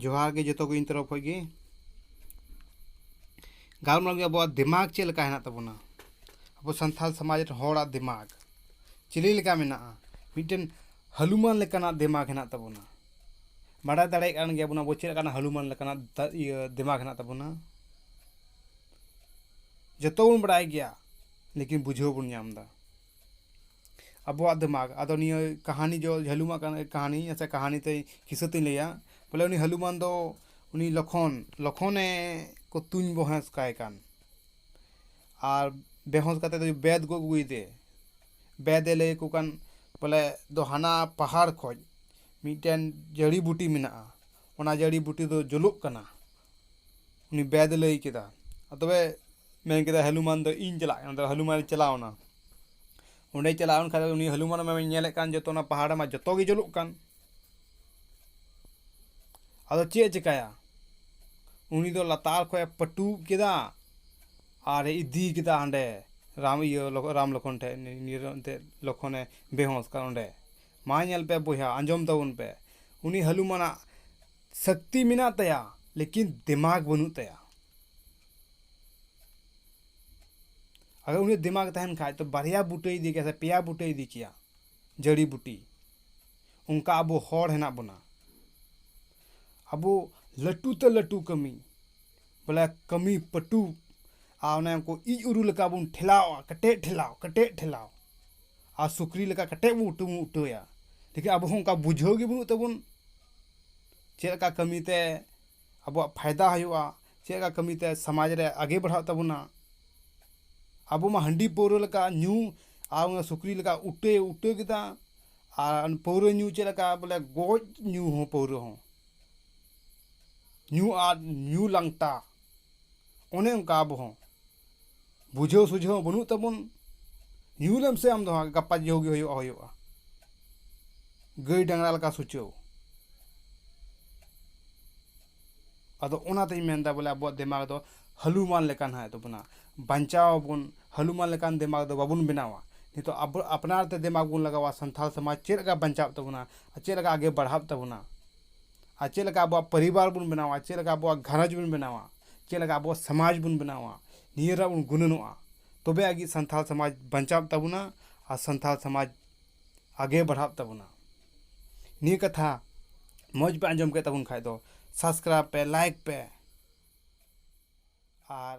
ᱡᱚᱦᱟᱨ ᱜᱮ ᱡᱚᱛᱚ ᱠᱚ ᱤᱧ ᱛᱚᱨᱚᱯ ᱠᱷᱚᱱ ᱜᱮ ᱜᱟᱞᱢᱟᱨᱟᱣ ᱜᱮ ᱟᱵᱚᱣᱟᱜ ᱫᱤᱢᱟᱜᱽ ᱪᱮᱫ ᱞᱮᱠᱟ ᱦᱮᱱᱟᱜ ᱛᱟᱵᱚᱱᱟ ᱟᱵᱚ ᱥᱟᱱᱛᱟᱲ ᱥᱚᱢᱟᱡᱽ ᱨᱮᱱ ᱦᱚᱲᱟᱜ ᱫᱤᱢᱟᱜᱽ ᱪᱤᱞᱤ ᱞᱮᱠᱟ ᱢᱮᱱᱟᱜᱼᱟ ᱢᱤᱫᱴᱮᱱ ᱦᱟᱹᱞᱩᱢᱟᱱ ᱞᱮᱠᱟᱱᱟᱜ ᱫᱤᱢᱟᱜᱽ ᱦᱮᱱᱟᱜ ᱛᱟᱵᱚᱱᱟ ᱵᱟᱰᱟᱭ ᱫᱟᱲᱮᱭᱟᱜ ᱠᱟᱱ ᱜᱮᱭᱟ ᱵᱚᱱ ᱟᱵᱚ ᱪᱮᱫ ᱞᱮᱠᱟᱱᱟᱜ ᱦᱟᱹᱞᱩᱢᱟᱱ ᱞᱮᱠᱟᱱᱟᱜ ᱤᱭᱟᱹ ᱫᱤᱢᱟᱜᱽ ᱦᱮᱱᱟᱜ ᱛᱟᱵᱚᱱᱟ ᱡᱚᱛᱚ ᱵᱚᱱ ᱵᱟᱰᱟᱭ ᱜᱮᱭᱟ ᱞᱮᱠᱤᱱ ᱵᱩᱡᱷᱟᱹᱣ ᱵᱚᱱ ᱧᱟᱢ ᱮᱫᱟ ᱟᱵᱚᱣᱟᱜ ᱫᱮᱢᱟᱜᱽ ᱟᱫᱚ ᱱᱤᱭᱟᱹ ᱠᱟᱦᱟᱱᱤ ᱫᱚ ᱡᱷᱟᱹᱞᱩᱢᱟᱜ ᱠᱟᱦᱟᱱᱤ ᱟᱪᱪᱷᱟ ᱠᱟᱦᱟᱱᱤ ᱛᱮ ᱠᱤᱥᱟᱹ ᱛᱮᱧ ᱞᱟᱹᱭᱟ ᱵᱚᱞᱮ ᱩᱱᱤ ᱦᱟᱹᱞᱩᱢᱟᱱ ᱫᱚ ᱩᱱᱤ ᱞᱚᱠᱷᱚᱱ ᱞᱚᱠᱷᱚᱱᱮ ᱠᱚ ᱛᱩᱧ ᱵᱚᱦᱮᱥ ᱠᱟᱭ ᱠᱟᱱ ᱟᱨ ᱵᱮᱦᱩᱥ ᱠᱟᱛᱮ ᱫᱚᱭ ᱵᱮᱫ ᱜᱚᱫ ᱟᱹᱜᱩᱭᱮᱫᱮ ᱵᱮᱫᱮ ᱞᱟᱹᱭ ᱟᱠᱚ ᱠᱟᱱ ᱵᱚᱞᱮ ᱫᱚ ᱦᱟᱱᱟ ᱯᱟᱦᱟᱲ ᱠᱷᱚᱱ ᱢᱤᱫᱴᱮᱱ ᱡᱟᱹᱲᱤ ᱵᱩᱴᱤ ᱢᱮᱱᱟᱜᱼᱟ ᱚᱱᱟ ᱡᱟᱹᱲᱤ ᱵᱩᱴᱤ ᱫᱚ ᱡᱩᱞᱩᱜ ᱠᱟᱱᱟ ᱩᱱᱤ ᱵᱮᱫ ᱮ ᱞᱟᱹᱭ ᱠᱮᱫᱟ ᱟᱨ ᱛᱚᱵᱮ ᱢᱮᱱ ᱠᱮᱫᱟᱭ ᱦᱚᱱᱩᱢᱟᱱ ᱫᱚ ᱤᱧ ᱪᱟᱞᱟᱜ ᱠᱟᱱᱟ ᱟᱫᱚ ᱦᱚᱱᱩᱢᱟᱱ ᱮ ᱪᱟᱞᱟᱣ ᱮᱱᱟ ᱚᱸᱰᱮ ᱪᱟᱞᱟᱣ ᱮᱱ ᱠᱷᱟᱱ ᱫᱚ ᱩᱱᱤ ᱦᱚᱱᱩᱢᱟᱱ ᱢᱟᱭ ᱧᱮᱞᱮᱫ ᱠᱟᱱ ᱡᱚᱛᱚ ᱚᱱᱟ ᱯᱟᱦᱟᱲ ᱨᱮᱢᱟ ᱡᱚᱛᱚ ᱜᱮ ᱡᱩᱞᱩᱜ ᱠᱟᱱ ᱟᱫᱚ ᱪᱮᱫ ᱮ ᱪᱤᱠᱟᱹᱭᱟ ᱩᱱᱤ ᱫᱚ ᱞᱟᱛᱟᱨ ᱠᱷᱚᱱ ᱮ ᱯᱟᱹᱴᱩᱵ ᱠᱮᱫᱟ ᱟᱨᱮ ᱤᱫᱤ ᱠᱮᱫᱟ ᱦᱟᱸᱰᱮ ᱨᱟᱢ ᱤᱭᱟᱹ ᱨᱟᱢ ᱞᱚᱠᱠᱷᱚᱱ ᱴᱷᱮᱱ ᱱᱤᱭᱟᱹ ᱫᱚ ᱮᱱᱛᱮᱫ ᱞᱚᱠᱠᱷᱚᱱᱮ ᱵᱮᱦᱩᱸᱥ ᱠᱟᱱᱟ ᱚᱸᱰᱮ ᱢᱟ ᱧᱮᱞ ᱯᱮ ᱵᱚᱭᱦᱟ ᱟᱸᱡᱚᱢ ᱛᱟᱵᱚᱱ ᱯᱮ ᱩᱱᱤ ᱦᱟᱞᱩᱢᱟᱱᱟᱜ ᱥᱟᱠᱛᱤ ᱢᱮᱱᱟᱜ ᱛᱟᱭᱟ ᱞᱮᱠᱤᱱ ᱫᱮᱢᱟᱜᱽ ᱵᱟᱹᱱᱩᱜ ᱛᱟᱭᱟ ᱟᱫᱚ ᱩᱱᱤ ᱫᱮᱢᱟᱜᱽ ᱛᱟᱦᱮᱱ ᱠᱷᱟᱡ ᱛᱚ ᱵᱟᱨᱭᱟ ᱵᱩᱴᱟᱹᱭ ᱤᱫᱤ ᱠᱮᱭᱟ ᱥᱮ ᱯᱮᱭᱟ ᱵᱩᱴᱟᱹᱭ ᱤᱫᱤ ᱠᱮᱭᱟ ᱡᱟᱹᱲᱤ ᱵᱩᱴᱤ ᱚᱱᱠᱟ ᱟᱵᱚ ᱦᱚᱲ ᱦᱮᱱᱟᱜ ᱵᱚᱱᱟ ᱟᱵᱚ ᱞᱟᱹᱴᱩ ᱛᱮ ᱞᱟᱹᱴᱩ ᱠᱟᱹᱢᱤ ᱵᱚᱞᱮ ᱠᱟᱹᱢᱤ ᱯᱟᱹᱴᱩ ᱟᱨ ᱚᱱᱮ ᱩᱱᱠᱩ ᱤᱡ ᱩᱨᱩ ᱞᱮᱠᱟ ᱵᱚᱱ ᱴᱷᱮᱞᱟᱣᱟ ᱠᱮᱴᱮᱡ ᱴᱷᱮᱞᱟᱣ ᱠᱮᱴᱮᱡ ᱴᱷᱮᱞᱟᱣ ᱟᱨ ᱥᱩᱠᱨᱤ ᱞᱮᱠᱟ ᱠᱮᱴᱮᱡ ᱵᱚᱱ ᱩᱴᱟᱹ ᱵᱚᱱ ᱩᱴᱟᱹᱭᱟ ᱞᱮᱠᱤᱱ ᱟᱵᱚ ᱦᱚᱸ ᱚᱱᱠᱟ ᱵᱩᱡᱷᱟᱹᱣ ᱜᱮ ᱵᱟᱹᱱᱩᱜ ᱛᱟᱵᱚᱱ ᱪᱮᱫ ᱞᱮᱠᱟ ᱠᱟᱹᱢᱤ ᱛᱮ ᱟᱵᱚᱣᱟᱜ ᱯᱷᱟᱭᱫᱟ ᱦᱩᱭᱩᱜᱼᱟ ᱪᱮᱫ ᱞᱮᱠᱟ ᱠᱟᱹᱢᱤ ᱛᱮ ᱥᱚᱢᱟᱡᱽ ᱨᱮ ᱟᱜᱮ ᱵᱟᱲᱦᱟᱜ ᱛᱟᱵᱚᱱᱟ ᱟᱵᱚ ᱢᱟ ᱦᱟᱺᱰᱤ ᱯᱟᱹᱣᱨᱟᱹ ᱞᱮᱠᱟ ᱧᱩ ᱟᱨ ᱚᱱᱟ ᱥᱩᱠᱨᱤ ᱞᱮᱠᱟ ᱩᱴᱟᱹᱭ ᱩᱴᱟᱹ ᱠᱮᱫᱟ ᱟᱨ ᱯᱟᱹᱣᱨᱟᱹ ᱧᱩ ᱪᱮᱫ ᱞᱮᱠᱟ ᱵᱚᱞᱮ ᱜᱚᱡ ᱧᱩ ᱦᱚᱸ ᱯᱟᱹᱣᱨᱟᱹ ᱦᱚᱸ ᱧᱩ ᱟᱫ ᱧᱩ ᱞᱟᱝᱴᱟ ᱚᱱᱮ ᱚᱱᱠᱟ ᱟᱵᱚ ᱦᱚᱸ ᱵᱩᱡᱷᱟᱹᱣ ᱥᱩᱡᱷᱟᱹᱣ ᱦᱚᱸ ᱵᱟᱹᱱᱩᱜ ᱛᱟᱵᱚᱱ ᱧᱩ ᱞᱮᱢ ᱥᱮ ᱟᱢ ᱫᱚ ᱦᱟᱸᱜ ᱜᱟᱯᱟ ᱡᱚ ᱜᱮ ᱦᱩᱭᱩᱜᱼᱟ ᱦᱩᱭᱩᱜᱼᱟ ᱜᱟᱹᱭ ᱰᱟᱝᱨᱟ ᱞᱮᱠᱟ ᱥᱩᱪᱟᱹᱣ ᱟᱫᱚ ᱚᱱᱟᱛᱤᱧ ᱢᱮᱱᱫᱟ ᱵᱚᱞᱮ ᱟᱵᱚᱣᱟᱜ ᱫᱤᱢᱟᱜᱽ ᱫᱚ ᱦᱟᱹᱞᱩᱢᱟᱞ ᱞᱮᱠᱟ ᱱᱟᱜ ᱮ ᱛᱟᱵᱚᱱᱟ ᱵᱟᱧᱪᱟᱣ ᱟᱵᱚᱱ ᱦᱟᱹᱞᱩᱢᱟᱞ ᱞᱮᱠᱟᱱ ᱫᱮᱢᱟᱜᱽ ᱫᱚ ᱵᱟᱵᱚᱱ ᱵᱮᱱᱟᱣᱟ ᱱᱤᱛᱚᱜ ᱟᱵᱚ ᱟᱯᱱᱟᱨ ᱛᱮ ᱫᱮᱢᱟᱜᱽ ᱵᱚᱱ ᱞᱟᱜᱟᱣᱟ ᱥᱟᱱᱛᱟᱲ ᱥᱚᱢᱟᱡᱽ ᱪᱮᱫ ᱞᱮᱠᱟ ᱵᱟᱧᱪᱟᱜ ᱛᱟᱵᱚᱱᱟ ᱟᱨ ᱪᱮᱫ ᱞᱮᱠᱟ ᱟᱜᱮ ᱵᱟᱲᱦᱟᱜ ᱛᱟᱵᱚᱱᱟ ᱟᱨ ᱪᱮᱫ ᱞᱮᱠᱟ ᱟᱵᱚᱣᱟᱜ ᱯᱚᱨᱤᱵᱟᱨ ᱵᱚᱱ ᱵᱮᱱᱟᱣᱟ ᱪᱮᱫ ᱞᱮᱠᱟ ᱟᱵᱚᱣᱟᱜ ᱜᱷᱟᱨᱚᱸᱡᱽ ᱵᱚᱱ ᱵᱮᱱᱟᱣᱟ ᱪᱮᱫ ᱞᱮᱠᱟ ᱟᱵᱚᱣᱟᱜ ᱥᱚᱢᱟᱡᱽ ᱵᱚᱱ ᱵᱮᱱᱟᱣᱟ ᱱᱤᱭᱟᱹ ᱨᱮᱭᱟᱜ ᱵᱚᱱ ᱜᱩᱱᱟᱹᱱᱚᱜᱼᱟ ᱛᱚᱵᱮ ᱟᱹᱱᱤᱡ ᱥᱟᱱᱛᱟᱲ ᱥᱚᱢᱟᱡᱽ ᱵᱟᱧᱪᱟᱜ ᱛᱟᱵᱚᱱᱟ ᱟᱨ ᱥᱟᱱᱛᱟᱲ ᱥᱚᱢᱟᱡᱽ ᱟᱜᱮ ᱵᱟᱲᱦᱟᱜ ᱛᱟᱵᱚᱱᱟ ᱱᱤᱭᱟᱹ ᱠᱟᱛᱷᱟ ᱢᱚᱡᱽ ᱯᱮ ᱟᱸᱡᱚᱢ ᱠᱮᱫ ᱛᱟᱵᱚᱱ ᱠᱷᱟᱡ ᱫᱚ ᱥᱟᱵᱥᱠᱨᱟᱭᱤᱵᱽ ᱯᱮ ᱞᱟᱭᱤᱠ ᱯᱮ ᱟᱨ